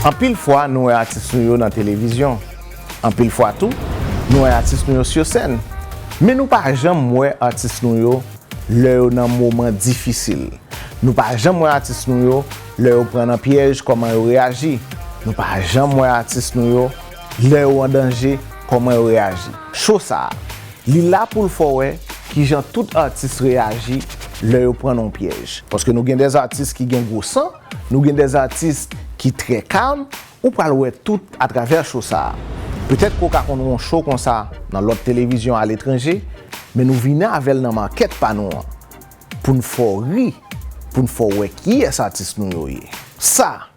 Anpil fwa nou wè atis nou yo nan televizyon, anpil fwa tou nou wè atis nou yo sur sèn, men nou pa janm wè atis nou yo lè yo nan moman difisil, nou pa janm wè atis nou yo lè yo pran nan pyèj kòman yo reyaji, nou pa janm wè atis nou yo lè yo an danje kòman yo reyaji. Cho sa a Li la poul fè w wè kijan tout atis reyaji lè yo pran nan yon pyèj. Paske nou gen des atis ki gen gwo san, nou gen des atis ki trè kalm, ou pral wè tout a travè show sa. Petèt ke w ka konn wè yon show konsa nan lòt televizyon aletranje, men nou vini avè l nan market pa nou an. Poun fè w ri, poun fè w wè kiyès atis nou yo ye. Sa!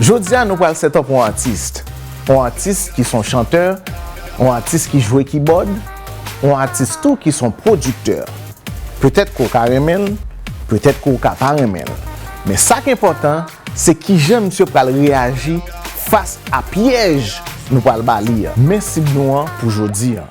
Jodi a nou pral set up yon artiste, yon artiste ki son chanteur, yon artiste ki jwe kibòd, yon artiste tou ki son producteur. Petèt ke w ka renmen l, petèt ke w ka pa renmen l. Men sa k enpòtan se kijan misye pral reyaji fas a pyèj nou pral ba li a. Men sib nou an pou jodi a.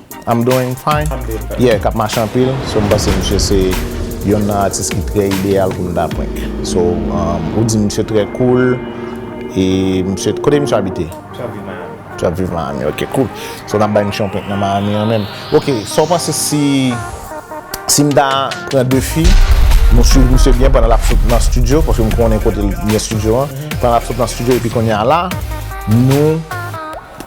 I'm doing fine Yeah kap mache anpil So m panse misye se yonn nan atis ki trè ideyal pou m ta prank So ou di misye trè cool E misye Kote misye abite? Misye ap viv Miami Misye ap viv Miami Ok cool So n ap bay misye yon prank nan Miami an menm Ok sa w panse si Si m ta pran 2 fi M ap swiv misye byen pandan l ap sot nan studio Paske m konnen kote l gen studio an Pandan l ap sot nan studio Epi kounye a la Nou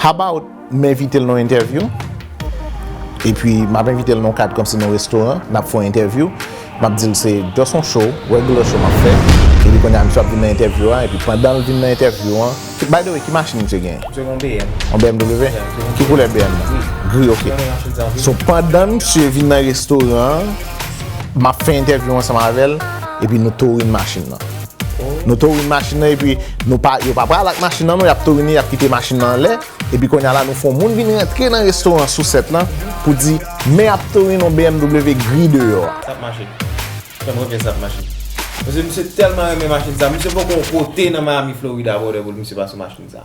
How about m envite l nan yon entèvyou? Epi m ap envite l nan yon kad kòm si nan yon restoran, n ap fè yon entèvyou. M ap di l se just yon show, regular show m ap fè. Epi kounye a misye ap vin nan entèvyou a. Epi pandan l vin nan entèvyou an. By the way, ki machin misye genyen? Misye gen yon BM. Yon BMW? Ya, misye gen yon BM. Ki koulè BM nan? Gri. Gri, ok. Mwen gen yon Chevy Envy. So pandan misye vin nan restoran an, m ap fè entèvyou ansanm avè l, epi nou touring machin nan. Nou tourin machin nan epi nou pa yo pa pral ak machin nan non yap tourin li yap kite machin nan anlè epi konya la nou fon moun vin rantre nan restoran sousèt lan pou di men ap tourin yon bmw gri deyò a. Sa ap mache. Fèm wè kè sa ap mache. Paske misye tèlman renmen machin sa. Misye poko kote nan Miami Florida brother pou misye pa sou machin sa.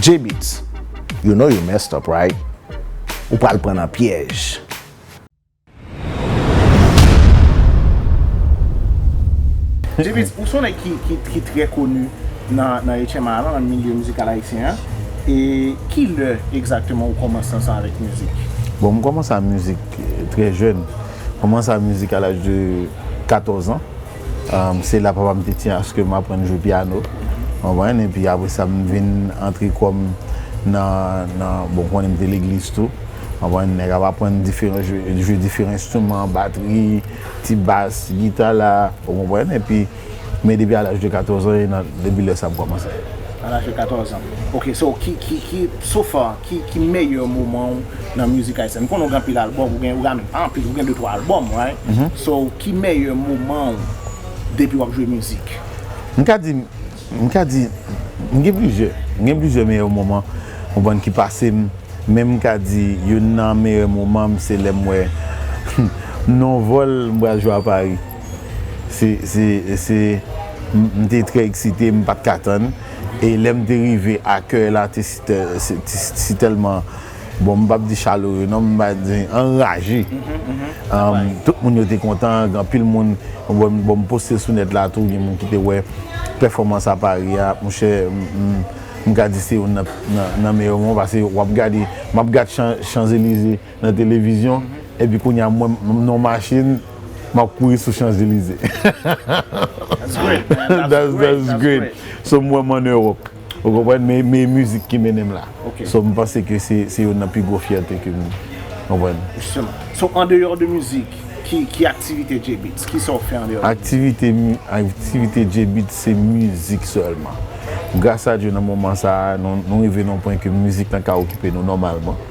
J-beatz You know you messed up right Ou pral pran nan pyèj. J-beatz ou son nèg ki trè koni nan HMA lan nan milye mizikal ayisyen an e kilè egzakteman ou kòmanse ansanm avèk mizik? Bon m kòmanse a mizik trè jèn, kòmanse a mizik a laj de 14 ans. Se la papa m te tiye aske m aprann jwe pyano. Ou konprann? Epi apre sa m vin antre kò m nan, bon ou konnen m te legliz tou. Ou konprann? Nèg ap aprann jwe diferan enstriman, batri, ti bas, ti gita la. Ou konprann? Epi, men depi a laj de 14 an, depi lè sa m kòmanse. A laj de 14 an. Ok, so ki, ki, ki, so far, Ki meyè moman w nan mizik ayisyen? M konnen w gen anpil album, ou gen menm pa anpil, ou gen 2 3 album right? So ki meyè moman w depi wap jwe mizik? M ka di, m ka di, m gen plizyè, m gen plizyè meyè moman ou konprann ki pase m, men m ka di youn nan meyè moman m se lè m wè m nan yon vòl m pral jwe a Paris. Se se se m te trè eksite, m pat ka tann. E lè m te rive, akèy la te si tèlman, bon m pap di chaleureux non, m va di anraje. Tout moun yo te kontan, gen anpil moun, bon m poste l sou nèt la tou, gen moun ki te wè pèfòmans a Paris a, monchè m ka di se youn nan meyè moman, pase w ap gade, m ap gad Champs Elysées. nan televizyon epi kounya mwen m nan machin map kouri sou chanzelize that's that's great so m wè m an Europe ou konprann men men e mizik ki mennen m la so m panse ke se se youn nan pi gwo fyète ke m konprann. So andeyò de mizik ki ki aktivite J-beatz kisa w fè andeyò de mizik? Aktivite mi aktivite J-beatz se mizik sèlman gras a Dye nan moman sa nou rive nan yon pwen ke mizik lan ka okipe nou nòmalman.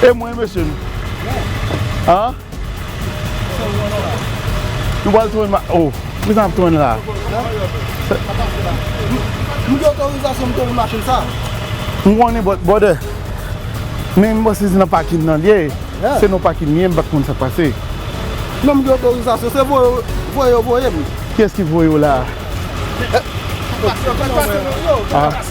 E mwen mesye nou? An? Nou pral tounen ma... Oh, ki sa nap tounen la? Nou gen otorizasyon pou tounen machin sa? M konnen bòt bòdè. Men m panse se nan pakin nan li ye. Se nan pakin li ye m pa konn sak pase. Non m gen otorizasyon. Se voye yo voye m. Kiyès ki voye w la? Sa pase nan yo.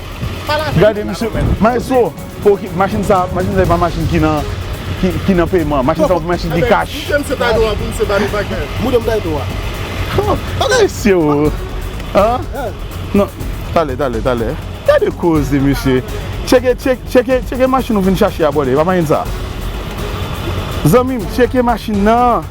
Gade misye, maestro, machin sa se pa machin ki nan peyman, machin sa se machin ki kach. Mwen se ta do a pou misye bani bagay. Mwen se ta do a. Mesye ou. Tale, tale, tale. Gade koze misye. Cheke, cheke, cheke machin ou vin chache a bole. Epa machin sa. Zanmim, cheke machin nan.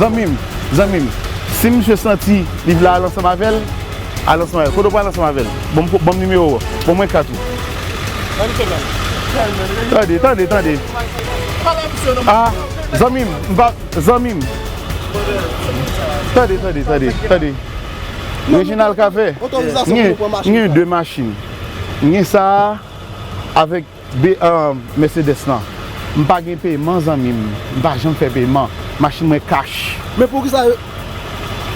Zanmim zanmim si misye santi li vle al ansanm avèl al ansanm avèl kote ou pral ansanm avèl banm nimewo ou bon mwen kat ou tande tande tande zanmim zanmim tande tande tande tande Reginald cafe mwen gen 2 machin mwen gen sa avèk Mercedes lan m pa gen payman zanmi m m pa janm fè payman machine mwen cash. Men poukisa yo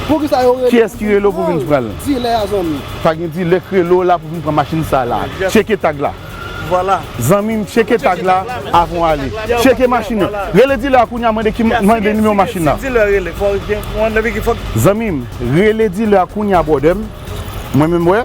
poukisa yo rele Kiyès ki rele w pou vin pran l? Dilè a zanmi. Pa gen dilè k rele w la pou vin pran machin sa la. Tcheke tag la. Vwala. Zanmi m tcheke tag la avan w ale. Tcheke machin nan. Rele dilè a kounya mande ki mande nimewo machin nan. Si dilè a rele fò w gen kouman depi ki fòk. Zanmi m rele dilè a kounya brother m. Mwen menm wè.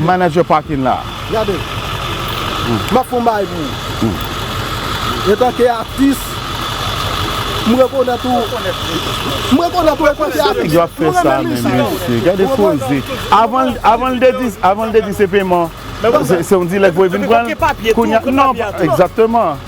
Manager parking la. Gade. Map fon bagay pou ou. Etan ke atis. M rekonèt ou. M rekonèt ou etan ke atis. M renmen mizik ou. Mesye gade koze. Avan l te di avan l te di se peman. Se yon dilèk pou e vin pran. Kounye a. Exactement.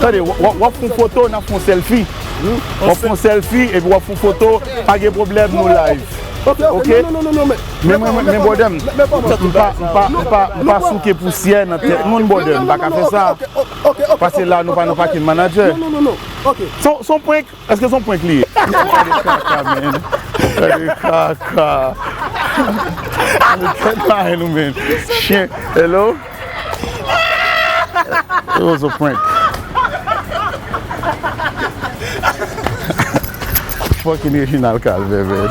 Tande, w ap fon foto nan fon selfi W ap fon selfi epi w ap fon foto Pa gen pwoblèm nou live Ok ok Men men brother m m pa m pa m pa m pa souke pousyè nan tèt moun brother m pa ka fè sa Pase la nou pa nan fucking manager S on prank Eske son prank li ye. Gade kaka menn gade kaka gade tèt marenn ou menn chyen hello it was a prank fucking Reginald Calvaire menn.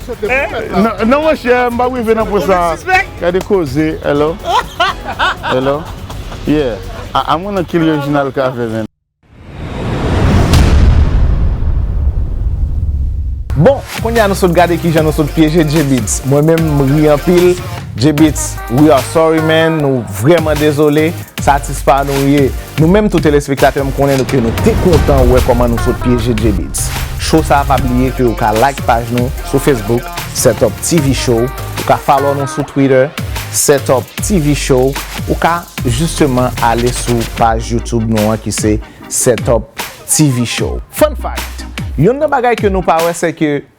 Eeh non monchè m pap rive nan pwen sa Gade koze Hello Hello Yeah A mwen nan kilh Reginald Cavé menn. Bon kounya nou sot gade kijan nou sot pyeje Djebeatz Mwen menm m ri anpil Djebeatz we are sorry man nou vrèman dezole. Satisfa nou ye! Nou menm tou telespektatè m konnen ke nou te kontan wè kòman nou sot pyeje Djebeats Show sa pa bliye ke ou ka like paj nou sou Facebook Setup TV Show ou ka follow nou sou Twitter Setup TV Show ou ka jisteman ale sou paj YouTube nou an ki se Setup TV Show. Fun fact! Yonn nan bagay ke nou pa wè sè ke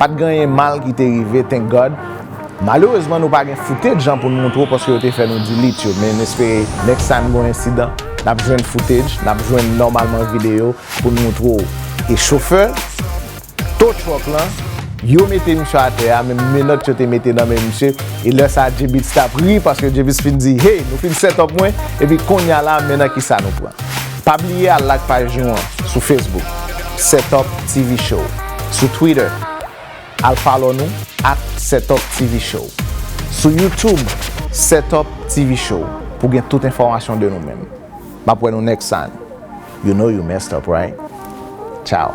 Pat gen anyen mal ki te rive thank God. Malerezman nou pa gen footage jan pou n moutre w paske yo te fè nou delete yo men n espere next time gon ensidan n ap jwenn footage n ap jwenn nòmalman videyo pou n moutre w e chofè tow truck lan yo mete misye atè a men menòt yo te mete nan men misye e lè sa J-beatz t ap ri paske J-beatz fin di hey nou fin set up mwen epi konnya la men nan kisa nou pran. Pa bliye al lak paj nou an sou Facebook Setup TV Show Sou Twitter al follow nou at Setup TV Show Sou YouTube Setup TV Show pou gen tout enfòmasyon de nou menm Map wè nou next time You know you messed up right Ciao.